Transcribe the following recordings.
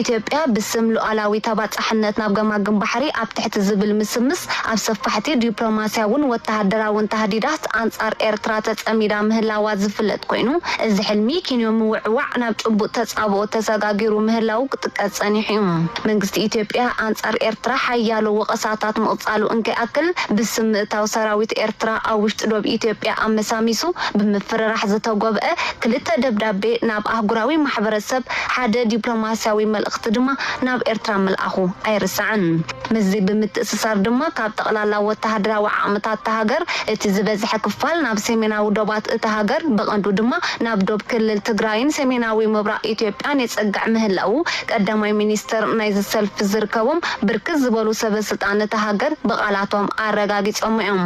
ኢትዮጵያ ብስም ሉኣላዊ ተባፃሕነት ናብ ገማግም ባሕሪ ኣብ ትሕቲ ዝብል ምስምስ ኣብ ሰፋሕቲ ዲፕሎማሲያውን ወታሃደራውን ታህዲዳት ኣንፃር ኤርትራ ተፀሚዳ ምህላዋ ዝፍለጥ ኮይኑ እዚ ሕልሚ ኪንዮ ምውዕዋዕ ናብ ጭቡጥ ተፃብኦ ተሰጋጊሩ ምህላዉ ክጥቀስ ፀኒሑ ዩ። መንግስቲ ኢትዮጵያ ኣንፃር ኤርትራ ሓያሎ ወቐሳታት ምቕፃሉ እንከይኣክል ብስም ምእታው ሰራዊት ኤርትራ ኣብ ውሽጢ ዶብ ኢትዮጵያ ኣመሳሚሱ ብምፍርራሕ ዝተጎብኣ ክልተ ደብዳቤ ናብ ኣህጉራዊ ማሕበረሰብ ሓደ ዲፕሎማስያዊ መልእኽቲ ድማ ናብ ኤርትራ ምልኣኹ ኣይርሳዕን። ምስዚ ብምትእስሳር ድማ ካብ ጠቕላላ ወተሃደራዊ ዓቕምታት እታ ሃገር እቲ ዝበዝሐ ክፋል ናብ ሰሜናዊ ዶባት እታ ሃገር ብቐንዱ ድማ ናብ ዶብ ክልል ትግራይን ሰሜናዊ ምብራቕ ኢትዮጵያን የጸግዕ ምህላዉ ቀዳማይ ሚኒስተር ናይዚ ሰልፊ ዝርከቦም ብርክት ዝበሉ ሰበስልጣን እታ ሃገር ብቓላቶም ኣረጋጊጾም'ዮም።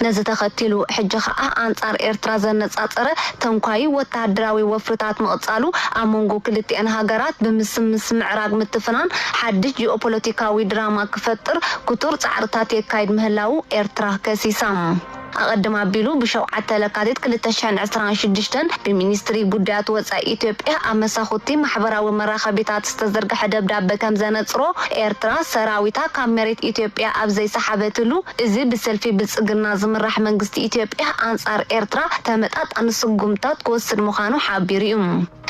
ነዚ ተኸቲሉ ሕጂ ከኣ ኣንጻር ኤርትራ ዘነጻጸረ ተንኳዪ ወተሃደራዊ ወፍርታት ምቕጻሉ፣ ኣብ መንጎ ክልቲኤን ሃገራት ብምስምስ ምዕራግ ምትፍናን ሓድሽ ጂኦፖለቲካዊ ድራማ ክፈጥር ክቱር ጻዕርታት የካይድ ምህላዉ ኤርትራ ከሲሳ። ኣቐድም ኣቢሉ ብ ሸውዓተ ለካቲት ክልተ ሽሕን ዕስራን ሽዱሽተን ብሚኒስትሪ ጉዳያት ወጻኢ ኢትዮጵያ ኣብ መሳኹቲ ማሕበራዊ መራኸቢታት፣ ዝተዘርግሐ ደብዳበ ከም ዘነጽሮ፣ ኤርትራ ሰራዊታ ካብ መሬት ኢትዮጵያ ኣብ ዘይሰሓበትሉ፣ እዚ ብሰልፊ ብልጽግና ዝምራሕ መንግስቲ ኢትዮጵያ ኣንጻር ኤርትራ ተመጣጣኒ ስጉምትታት ክወስድ ምዃኑ ሓቢሩ'ዩ።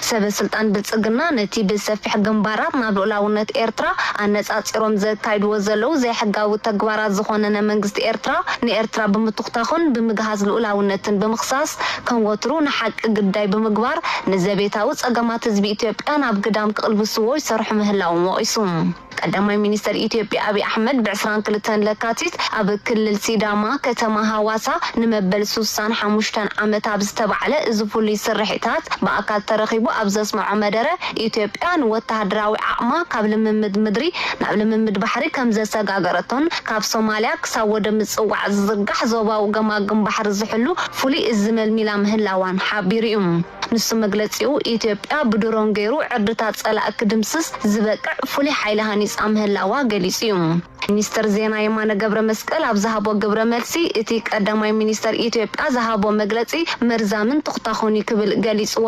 ሰበ ስልጣን ብልጽግና ነቲ ብሰፊሕ ግንባራት ናብ ልኡላውነት ኤርትራ ኣነጻጺሮም ዘካይድዎ ዘለዉ ዘይሕጋዊ ተግባራት ዝኾነነ መንግስቲ ኤርትራ፣ ንኤርትራ ብምቱኽታኹን ብምግሃስ ልኡላውነትን ብምኽሳስ፣ ከም ወትሩ ንሓቂ ግዳይ ብምግባር ንዘቤታዊ ጸገማት ህዝቢ ኢትዮጵያ ናብ ግዳም ክቕልብስዎ ይሰርሑ ምህላዎም ወቒሱ። ቀዳማይ ሚኒስተር ኢትዮጵያ ኣብይ ኣሕመድ ብ ዕስራን ክልተን ለካቲት ኣብ ክልል ሲዳማ ከተማ ሃዋሳ ንመበል ሱሳን ሓሙሽተን ዓመት ኣብ ዝተባዕለ እዚ ፍሉይ ስርሒታት ብኣካል ተረኺቡ ኣብ ዘስመዖ መደረ ኢትዮጵያ ንወተሃደራዊ ዓቕማ ካብ ልምምድ ምድሪ ናብ ልምምድ ባሕሪ ከምዘሰጋገረቶን ካብ ሶማልያ ክሳብ ወደብ ምጽዋዕ ዝዝርጋሕ ዞባዊ ገማግም ባሕሪ ዝሕሉ ፍሉይ እዝ መልሚላ ምህላዋን ሓቢሩ'ዩ። ንሱ መግለጺኡ፣ ኢትዮጵያ ብድሮን ገይሩ ዕርድታት ጸላኢ ክድምስስ ዝበቅዕ ፍሉይ ሓይሊ ሃኒጻ ምህላዋ ገሊጹ'ዩ። ሚኒስትር ዜና የማነ ገብረመስቀል ኣብ ዝሃቦ ግብረ መልሲ፣ እቲ ቀዳማይ ሚኒስተር ኢትዮጵያ ዝሃቦ መግለጺ መርዛምን ቶኽታኹን'ዩ ክብል ገሊጹዎ።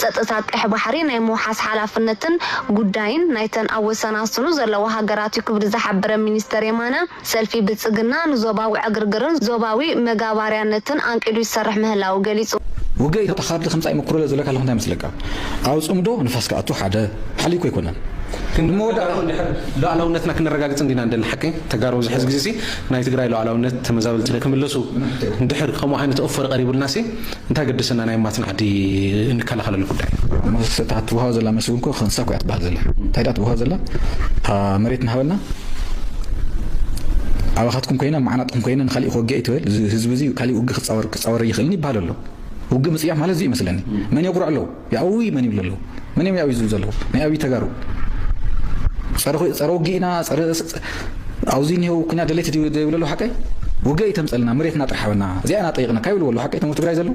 ጸጥታ ቀይሕ ባሕሪ ናይ ምውሓስ ሓላፍነትን ጉዳይን ናይተን ኣብ ወሰናስኑ ዘለዋ ሃገራት'ዩ ክብል ዝሓበረ ሚኒስተር የማነ፣ ሰልፊ ብልጽግና ንዞባዊ ዕግርግርን ዞባዊ መጋባርያነትን ኣንቂዱ ይሰርሕ ምህላዉ ገሊጹ። ውግእ ኢትዮጵያ ካብቲ ክምጻእ ይምኩሩ ለዘሎ ከለኹ እንታይ ይመስለካ ኣብ ጽምዶ ንፋስ ክኣቱ ሓደ ሓልዩኩ ኣይኮነን ግን ንመወዳእታኡ እንድሕር ሉኣላውነትና ክነረጋግጽ እንዲና ንደሊ ሓቂ ተጋሩ ኣብዚ ሕዚ ግዜሲ ናይ ትግራይ ሉኣላውነት ተመዛበልቲ ክምለሱ እንድሕር ከምኡ ዓይነት ኦፈር ቀሪቡልናሲ እንታይ ገደሰና ናይ ማት ናዕዲ እንከላኸለሉ ጉዳይ። ምስ እታ ትወሃብ ዘላ መልሲ እውን እኮ ክንሳ እኮ እያ ትበሃል ዘላ እንታይ ድኣ ትወሃብ ዘላ እታ መሬትና ሃበና ኣባኻትኩም ኮይና ማዕናጥኩም ኮይና ንካሊእ ክወግእ እየ ትበል እዚ ህዝቢ እዚ ካሊእ ውግእ ክፃወር ክፃወር ይኽእልኒ ይበሃል ኣሎ ውግእ ምፅያፍ ማለት እዚ እዩ መስለኒ መን የጉርዕ ኣለዉ ያኡይ መን ይብሉ ኣለው መን እዮም ያኡይ ዝብሉ ዘለው ናይ ኣብይ ተጋሩ ፀረ ውግኢና ፀረ ኣብዚ እኒሄው ኩኛ ደለይቲ ድዩ ዘይብሉ ኣለው ሓቀይ ውግእ ይተምፀልና መሬትና ጥራሕ ሃበና እዚኣ ኢና ጠይቕና ካብ ይብልዎ ኣለው ሓቀይ ተምር ትግራይ ዘለው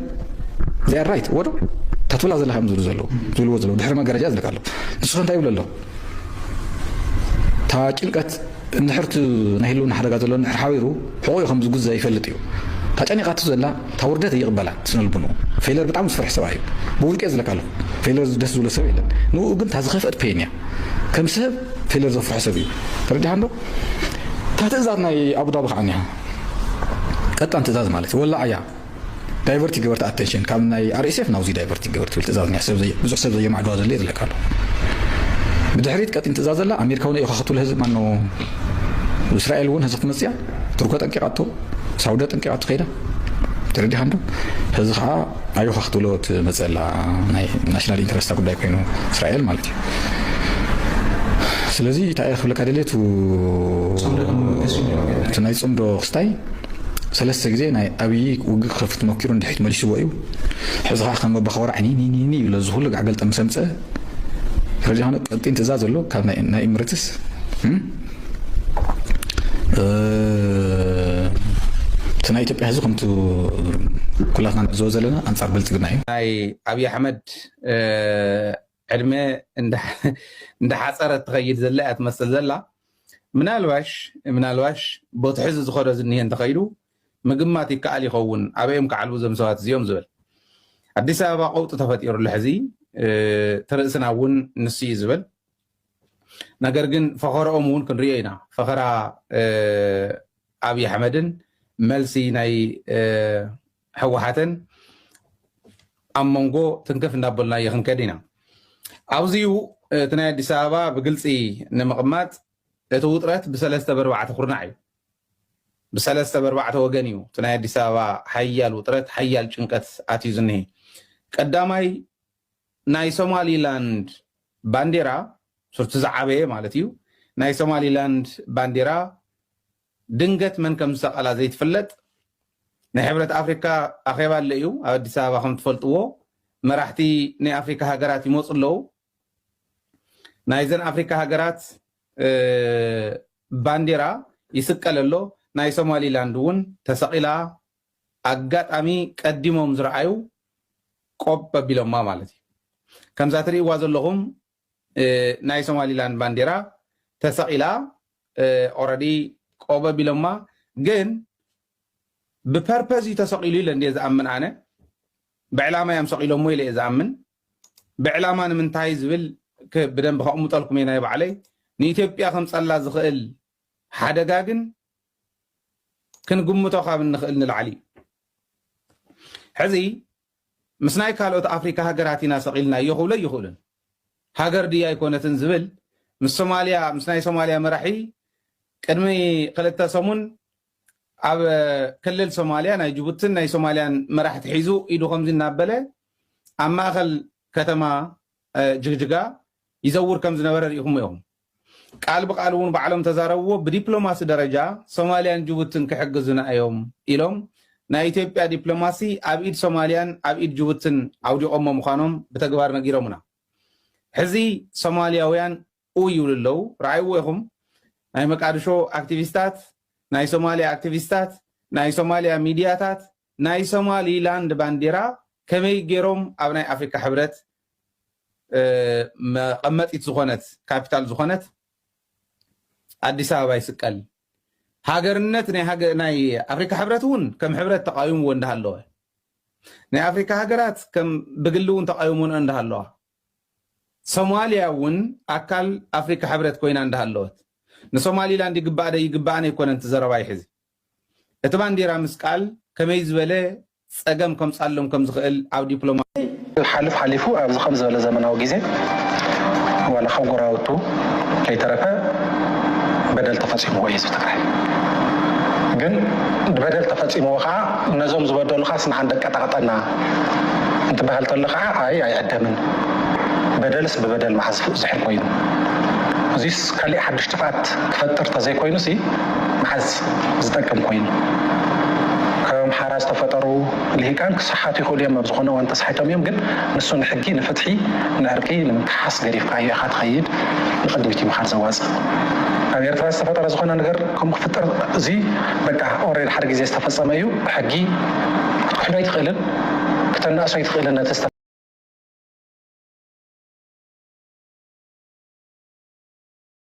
እዚኣ ራይት ወዶ እታ ትብላ ዘለካ እዮም ዝብሉ ዘለው ዝብልዎ ዘለው ድሕሪ መጋረጃ ዝልካ ኣሎ ንስኸ እንታይ ይብሉ ኣሎ እታ ጭንቀት እንድሕርቲ ናይ ህልውና ሓደጋ ዘሎ እንድሕር ሓቢሩ ሕቑኡ ከም ዝጉዘ ይፈልጥ እዩ እታ ጨኒቓቱ ዘላ እታ ውርደት ኣይቅበላን ስነልቡንኡ ፌለር ብጣዕሚ ዝፈርሕ ሰብኣይ እዩ ብውልቂየ ዝለካ ኣለኩ ፌለር ደስ ዝብሎ ሰብ የለን ንኡ ግን እታ ዝከፍእት ፔን እያ ከም ሰብ ፌለር ዘፍርሖ ሰብ እዩ ተረዲካ እንዶ እታ ትእዛዝ ናይ ኣቡዳቢ ከዓ እኒሃ ቀጣን ትእዛዝ ማለት ወላዕ እያ ዳይቨርቲ ገበርቲ ኣተንሽን ካብ ናይ ኣርኤስኤፍ ናብዚ ዳይቨርቲ ገበር ትብል ትእዛዝ እኒሃ ሰብ ብዙሕ ሰብ ዘየማዕድዋ ዘለ ዝለካ ኣሎ ብድሕሪት ቀጢን ትእዛዝ ዘላ ኣሜሪካ እውን እዮካ ክትብሎ ህዝብ ማኖ እስራኤል እውን ህዚ ክትመፅያ ቱርኮ ጠንቂቃቶ ሳውደ ጠንቂቃቶ ከይዳ ተረዲኻ እንዶ ሕዚ ከዓ ኣዮኻ ክትብሎ ትመፅእ ኣላ ናይ ናሽናል ኢንተረስታ ጉዳይ ኮይኑ እስራኤል ማለት እዩ ስለዚ እንታይ እየ ክብለካ ደልየ እቲ ናይ ፅምዶ ክስታይ ሰለስተ ግዜ ናይ ኣብዪ ውግእ ክኸፍት መኪሩ ንድሕሪት መሊስዎ እዩ ሕዚ ከዓ ከም ኣባኸወራ ዕኒኒኒ ይብሎ እዚ ኩሉ ጋዕገልጠ ምስ ኣምፀ ረዲኻኖ ቀጢን ትእዛዝ ኣሎ ካብ ናይ ኢምረትስ እቲ ናይ ኢትዮጵያ ህዝቢ ከምቲ ኩላትና ንዕዘቦ ዘለና ኣንፃር ብልፅግና እዩ። ናይ ኣብይ ኣሕመድ ዕድመ እንዳሓፀረ ትኸይድ ዘላ እያ ትመስል ዘላ ምናልባሽ ምናልባሽ ቦቲ ሕዚ ዝኸዶ ዝኒሀ እንተኸይዱ ምግማት ይከኣል ይኸውን ኣበይ እዮም ክዓልቡ እዞም ሰባት እዚኦም ዝብል ኣዲስ ኣበባ ቀውጢ ተፈጢሩ ኣሎ ሕዚ እቲ ርእስና እውን ንሱ እዩ ዝብል ነገር ግን ፈኸረኦም እውን ክንሪኦ ኢና ፈኸራ ኣብይ ኣሕመድን መልሲ ናይ ሕወሓትን ኣብ መንጎ ትንክፍ እንዳበልናዮ ክንከድ ኢና ኣብዚ እዩ እቲ ናይ ኣዲስ ኣበባ ብግልፂ ንምቕማጥ እቲ ውጥረት ብሰለስተ በርባዕተ ኩርናዕ እዩ ብሰለስተ በርባዕተ ወገን እዩ እቲ ናይ ኣዲስ ኣበባ ሓያል ውጥረት ሓያል ጭንቀት ኣትዩ ዝኒሀ ቀዳማይ ናይ ሶማሊላንድ ባንዴራ ሱቲ ዝዓበየ ማለት እዩ ናይ ሶማሊላንድ ባንዴራ ድንገት መን ከም ዝሰቀላ ዘይትፍለጥ ናይ ሕብረት ኣፍሪካ ኣኼባ ኣሎ እዩ ኣብ ኣዲስ ኣበባ ከም ትፈልጥዎ መራሕቲ ናይ ኣፍሪካ ሃገራት ይመፁ ኣለዉ ናይዘን ኣፍሪካ ሃገራት ባንዴራ ይስቀል ኣሎ ናይ ሶማሊላንድ እውን ተሰቂላ ኣጋጣሚ ቀዲሞም ዝረኣዩ ቆብ ኣቢሎማ ማለት እዩ። ከምዛ ትሪእዋ ዘለኹም ናይ ሶማሊላንድ ባንዴራ ተሰቂላ ኦረዲ ቆብ ኣቢሎማ ግን ብፐርፐዝ እዩ ተሰቂሉ ኢለ እንድየ ዝኣምን ኣነ ብዕላማ እዮም ሰቂሎሞ ኢለ እየ ዝኣምን ብዕላማ ንምንታይ ዝብል ብደንብ ከቕምጠልኩም እየ ናይ ባዕለይ ንኢትዮጵያ ከምፀላ ዝኽእል ሓደጋ ግን ክንግምቶ ካብ እንኽእል ንላዕሊ እዩ። ሕዚ ምስ ናይ ካልኦት ኣፍሪካ ሃገራት ኢና ሰቒልናዮ ክብሎ ኣይኽእሉን። ሃገር ድዩ ኣይኮነትን ዝብል ምስ ሶማልያ ምስ ናይ ሶማልያ መራሒ ቅድሚ ክልተ ሰሙን ኣብ ክልል ሶማልያ ናይ ጅቡትን ናይ ሶማልያን መራሕቲ ሒዙ ኢዱ ከምዚ እናበለ ኣብ ማእኸል ከተማ ጅግጅጋ ይዘውር ከም ዝነበረ ርኢኹሞ ኢኹም። ቃል ብቃል እውን ባዕሎም ተዛረብዎ ብዲፕሎማሲ ደረጃ ሶማሊያን ጅቡትን ክሕግዙና እዮም ኢሎም ናይ ኢትዮጵያ ዲፕሎማሲ ኣብ ኢድ ሶማሊያን ኣብ ኢድ ጅቡትን ኣውዲቆሞ ምኳኖም ብተግባር ነጊሮሙና ሕዚ ሶማሊያውያን ኡይ ይብሉ ኣለው ረኣይዎ ኢኹም ናይ መቃድሾ ኣክቲቪስታት ናይ ሶማሊያ ኣክቲቪስታት ናይ ሶማሊያ ሚድያታት ናይ ሶማሊ ላንድ ባንዴራ ከመይ ጌሮም ኣብ ናይ ኣፍሪካ ሕብረት መቀመጢት ዝኮነት ካፒታል ዝኮነት ኣዲስ ኣበባ ይስቀል ሃገርነት ናይ ኣፍሪካ ሕብረት እውን ከም ሕብረት ተቃዊምዎ እንዳሃለወ ናይ ኣፍሪካ ሃገራት ከም ብግሊ እውን ተቃዊሞንኦ እንዳሃለዋ ሶማሊያ እውን ኣካል ኣፍሪካ ሕብረት ኮይና እንዳሃለወት ንሶማሊላንድ ይግባኣ ደይግባኣን ኣይኮነን እቲ ዘረባይ ሕዚ እቲ ባንዴራ ምስቃል ከመይ ዝበለ ጸገም ከምጻሎም ከም ዝኽእል ኣብ ዲፕሎማ። ሓልፍ ሓሊፉ ኣብዚ ከምዚ ዝበለ ዘመናዊ ግዜ ዋላ ካብ ጎራውቱ ከይተረፈ በደል ተፈጺምዎ እዩ ህዝቢ ትግራይ ግን በደል ተፈጺምዎ ካዓ ነዞም ዝበደሉኻ ስንዓ ደቀጣቅጠና እንትባሃል ተሎ ካዓ ኣይ ኣይዕደምን በደልስ ብበደል ማዓዝ ዝሕል ኮይኑ እዙይስ ካሊእ ሓዱሽ ጥፍኣት ክፈጥር ተዘይኮይኑሲ መሓዝ ዝጠቅም ኮይኑ። ከኣምሓራ ዝተፈጠሩ ሊሂቃን ክሳሓቱ ይኽእሉ እዮም ኣብ ዝኾነ እዋን ተሳሒቶም እዮም ግን ንሱ ንሕጊ ንፍትሒ ንዕርቂ ንምክሓስ ገዲፍካዮ ኢኻ ትኸይድ ንቅድሚት እዩ ምኻድ ዘዋጽእ ኣብ ኤርትራ ዝተፈጠረ ዝኾነ ነገር ከምኡ ክፍጥር እዚ በቃ ኦሬድ ሓደ ግዜ ዝተፈጸመ እዩ ብሕጊ ክትክሕዶ ኣይትኽእልን ክተናእሶ ኣይትኽእልን ነቲ